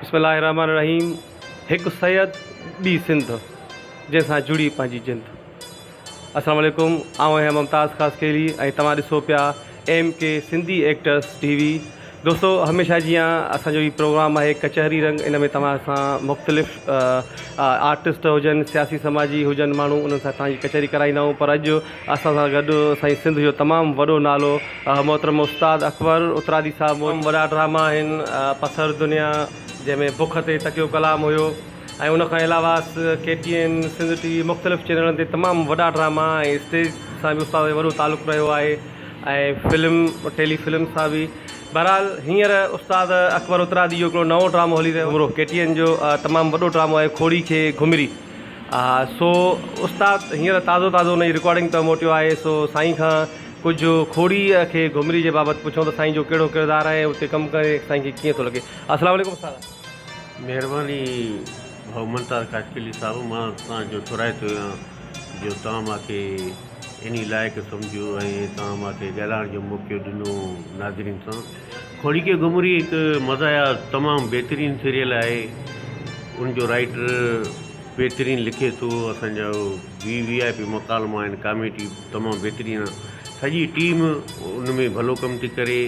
بسم الله الرحمن الرحيم هڪ سيد ٻي سنڌ جنهن سان جڙي پنهنجي جند السلام عليڪم آئون آهيان ممتاز خاصخيلي ۽ توهان ڏسو پيا M K Sindhi actress T V دوستو هميشه جيان اسان جو هي پروگرام آهي ڪچهري رنگ ان ۾ توهان سان مختلف آرٽسٽ هجن سياسي سماجي هجن ماڻهو انهن سان توهان جي ڪچهري ڪرائيندا آهيون پر اڄ اسان سان گڏ اسانجي سنڌ جو تمام وڏو نالو محترم استاد اڪبر اترادي صاحب موجود. تمام وڏا ڊراما آهن پٿر دنيا جنهن ۾ بک تي تڪيو ڪلام هيو ۽ ان کان علاوه K T N Sindh T V مختلف چينلن تي تمام وڏا ڊراما ۽ اسٽيج سان به استاد جو وڏو تعلق رهيو آهي ۽ فلم ٽيلي فلم سان به بهرحال هينئر استاد اڪبر اترادي جو هڪڙو نئون ڊرامو هلي رهيو آهي گمروه ڪي ٽي اين جو تمام وڏو ڊرامو آهي کوڙي کي گهمري. اها سو استاد هينئر تازو تازو انهي رڪارڊنگ تان موٽيو آهي سو سائين کان ڪجهه کوڙيء کي گهمري جي بابت پڇون ته سائين جو ڪهڙو ڪردار آهي ۽ اتي ڪم ڪري سائين کي ڪيئن ٿو لڳي. السلام عليڪم استاد. مهرباني ڀائو منتار خاشقلي صاحب مان توهان جو ٿورائتو آهيان جو توهان مان کي انهي لائق سمجهيو ۽ توهان مان کي ڳالهائڻ جو موقعو ڏنو ناظرين سان. ڪھوڙي ڪي گھمري ھڪ مزاحيه تمام بھترين سيريل آھي ان جو رائٽر بھترين لکي ٿو اسان جا وي وي آء پي مڪالمه آھن ڪاميٽي تمام بھترين سڄي ٽيم ان ۾ ڀلو ڪم ٿي ڪري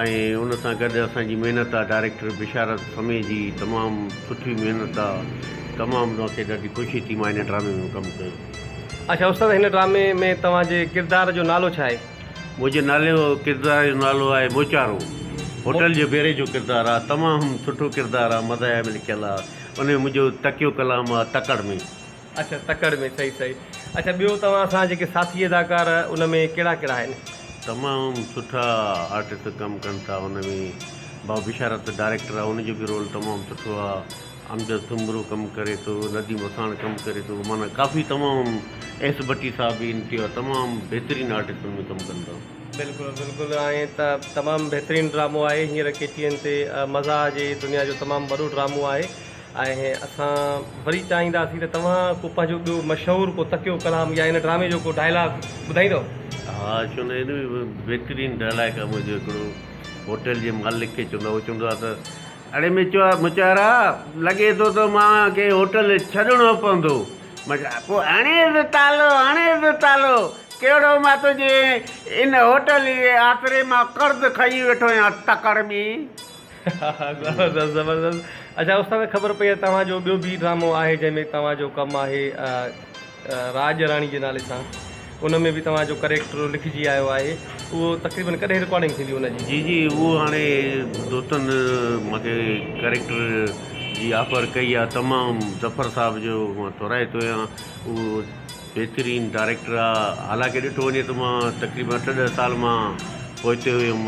۽ ان سان گڏ اسان جي محنت آ ڊائريڪٽر بشارت سمي جي تمام سٺي محنت آ تمام ما کي ڏاڍي خوشي ٿي ما ھن ڊرامي ۾ ڪم ڪيو. اچا استاد ھن ڊرامي ۾ توھان جي ڪردار جو نالو ڇا آھي. منهنجي نالي جو ڪردار جو نالو آهي موچارو هوٽل جي بيري جو ڪردار آهي تمام سٺو ڪردار آهي مزاحيه ۾ لکيل آهي ان ۾ منهنجو تکيو ڪلام آهي تڪڙ ۾. اڇا تڪڙ ۾ صحيح صحيح اڇا ٻيو توهان سان جيڪي ساٿي اداڪار ان ۾ ڪهڙا ڪهڙا آهن. تمام سٺا آرٽسٽ ڪم ڪن ٿا ان ۾ بابشارت ڊاريڪٽر آهي ان جو به رول تمام سٺو آهي. امجد سومرو ڪم ڪري ٿو، نديم وساڻ ڪم ڪري ٿو، معنيٰ ڪافي تمام ايس ڀٽي صاحب به ان ٽيو تمام بهترين آرٽسٽن ۾ ڪم ڪن ٿا. بلڪل بلڪل ائين ته تمام بهترين ڊرامو آهي هينئر ڪي ٽي اين تي مزاح جي دنيا جو تمام وڏو ڊرامو آهي ۽ اسان وري چاهينداسين ته توهان ڪو پنهنجو ٻيو مشهور ڪو تڪيو ڪلام يا ان ڊرامي جو ڪو ڊائلاگ ٻڌائيندؤ. ها ڇو نه ان ۾ بهترين ڊائلاگ آهي منهنجو هڪڙو هوٽل جي مالڪ کي چوندو آهي هو چوندو آهي ته اڙي مچارا، لڳي ٿو ته مان کي هوٽل ڇڏڻو پوندو. مچارا، پوء هڻيس تالو، هڻيس تالو. ڪهڙو مان تنهنجي ان هوٽل جي آسري مان قرض کڻي ويٺو آهيان، تڪڙ ٻي. ها ها زبردست زبردست اچا استاد خبر پئي ته توهان جو ٻيو بي ڊرامو آهي جنهن ۾ توهان جو ڪم آهي. راڄ راڻي جي نالي سان ان ۾ به توهان جو ڪريڪٽر لکجي آيو آهي اهو تقريبن ڪڏهن رڪارڊنگ ٿيندي ان جي. جي جي اهو هاڻي دوستن مان کي ڪريڪٽر جي آفر ڪئي آ تمام ظفر صاحب جو مان ٿورائتو آهيان اهو بهترين ڊائريڪٽر آ حالانڪه ڏٺو وڃي ته مان تقريبن اٺ ڏهه سال مان پوئتي هيم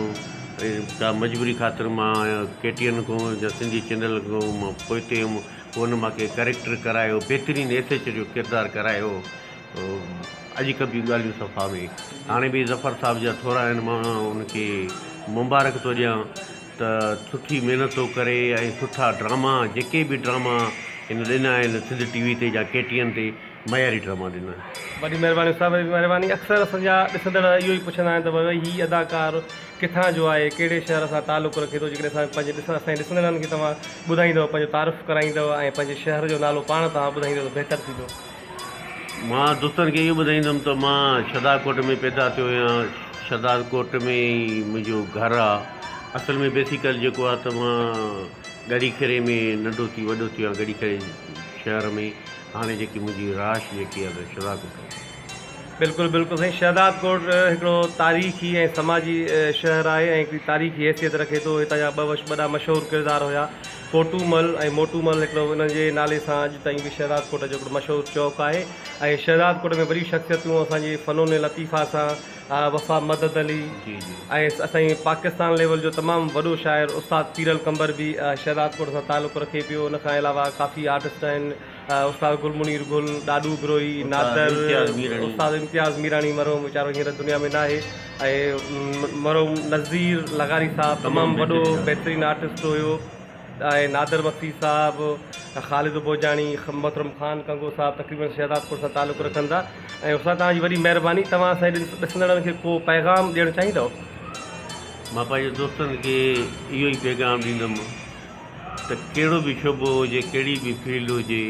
ڪا مجبوري خاطر مان ڪي ٽي اين کان يا سنڌي چينل کان مان پوئتي هيم ڪونه مان ڪي ڪريڪٽر ڪرايو بهترين ايس ايچ او جو ڪردار ڪرايو اڄ کان ٻيون ڳالهيون صفا ۾ هاڻي به ظفر صاحب جا ٿورا آهن مان ان کي مبارڪ ٿو ڏيان ته سٺي محنت ٿو ڪري ۽ سٺا ڊراما جيڪي به ڊراما هن ڏنا آهن سنڌ ٽي وي تي جا ڪي ٽي اين تي معياري ڊراما ڏنا آهن. وڏي مهرباني استاد وڏي مهرباني اڪثر اسان جا ڏسندڙ اهو ئي پڇندا آهن ته ڀائي هي اداڪار ڪٿان جو آهي ڪهڙي شهر سان تعلق رکي ٿو جيڪڏهن اسان پنهنجي ڏسڻ اسان جي ڏسندڙن کي توهان ٻڌائيندؤ پنهنجو تعارف ڪرائيندؤ ۽ پنهنجي شهر جو نالو پاڻ توهان ٻڌائيندؤ ته بهتر ٿيندو. مان دوستن کي اهو ٻڌائيندم ته مان شھدارڪوٽ ۾ پيدا ٿيو آهيان شھدارڪوٽ ۾ ئي منهنجو گهر آ اصل ۾ بيسيڪل جيڪو آ ته مان ڳڙهي کيري ۾ ننڍو ٿي وڏو ٿيو آهيان ڳڙهي کيري شهر ۾ هاڻي جيڪي منهنجي رهائش جيڪي آ ته شھدارڪوٽ آ. بلڪل بلڪل سائين شهداد ڪوٽ هڪڙو تاريخي ۽ سماجي شهر آهي ۽ هڪڙي تاريخي حيثيت رکي ٿو هتان جا ٻه وش ٻڏا مشهور ڪردار هيا ڪوٽو مل ۽ موٽو مل هڪڙو انهن جي نالي سان اڄ تائين به شهداد ڪوٽ جو هڪڙو مشهور چوڪ آهي ۽ شهداد ڪوٽ ۾ وڏيون شخصيتون اسان جي فنون لطيفه سان وفا مدد علي ۽ اسائين پاڪستان ليول جو تمام وڏو شاعر استاد پيرل قنبر به شهداد ڪوٽ سان تعلق رکي پيو ان کان علاوه ڪافي آرٽسٽ آهن استاد گل منير گل، ڏاڏو بروهي، نادر، استاد امتياز ميراڻي مرحوم ويچارو هينئر دنيا ۾ ناهي ۽ مرحوم نذير لغاري صاحب تمام وڏو بهترين آرٽسٽ هيو ۽ نادر مگسي صاحب، خالد ڀوڄاڻي، محترم خان ڪنگو صاحب تقريبن شهدادپور سان تعلق رکن ٿا ۽ استاد توهان جي وڏي مهرباني توهان اسان جي ڏسندڙن کي ڪو پيغام ڏيڻ چاهيندؤ؟ مان پنهنجي دوستن کي اهو ئي پيغام ڏيندم. ته ڪهڙو به شعبو هجي، ڪهڙي به فيلڊ هجي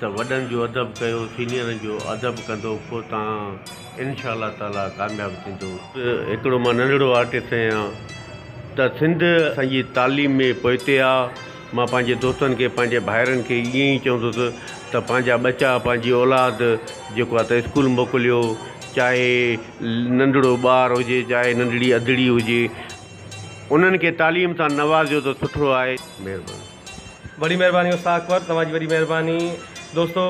ته وڏن جو ادب ڪيو، سينيئرن جو ادب ڪندو پوء تان انشاء الله تعاليٰ ڪامياب ٿيندو. هڪڙو مان ننڍڙو آرٽسٽ آهيان ته سنڌ اسان جي تعليم ۾ پوئتي آ، مان پنهنجي دوستن کي پنهنجي ڀائرن کي ائين ئي چوندس ته پنهنجا ٻچا پنهنجي اولاد جيڪو آ ته اسڪول موڪليو چاهي ننڍڙو ٻار هجي چاهي ننڍڙي اڌڙي هجي. انهن کي تعليم سان نوازيو ته سٺو آهي. مهرباني. وڏي مهرباني استاد اڪبر توهان جي وڏي مهرباني دوستو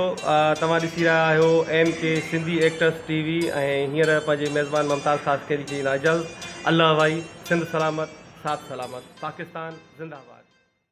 توهان ڏسي رهيا آهيو M K Sindhi actress T V ۽ هينئر پنهنجي ميزبان ممتاز خاصخيلي جي ڏيندا اجازت الله وائي سنڌ سلامت ساٿ سلامت پاڪستان زنده آباد.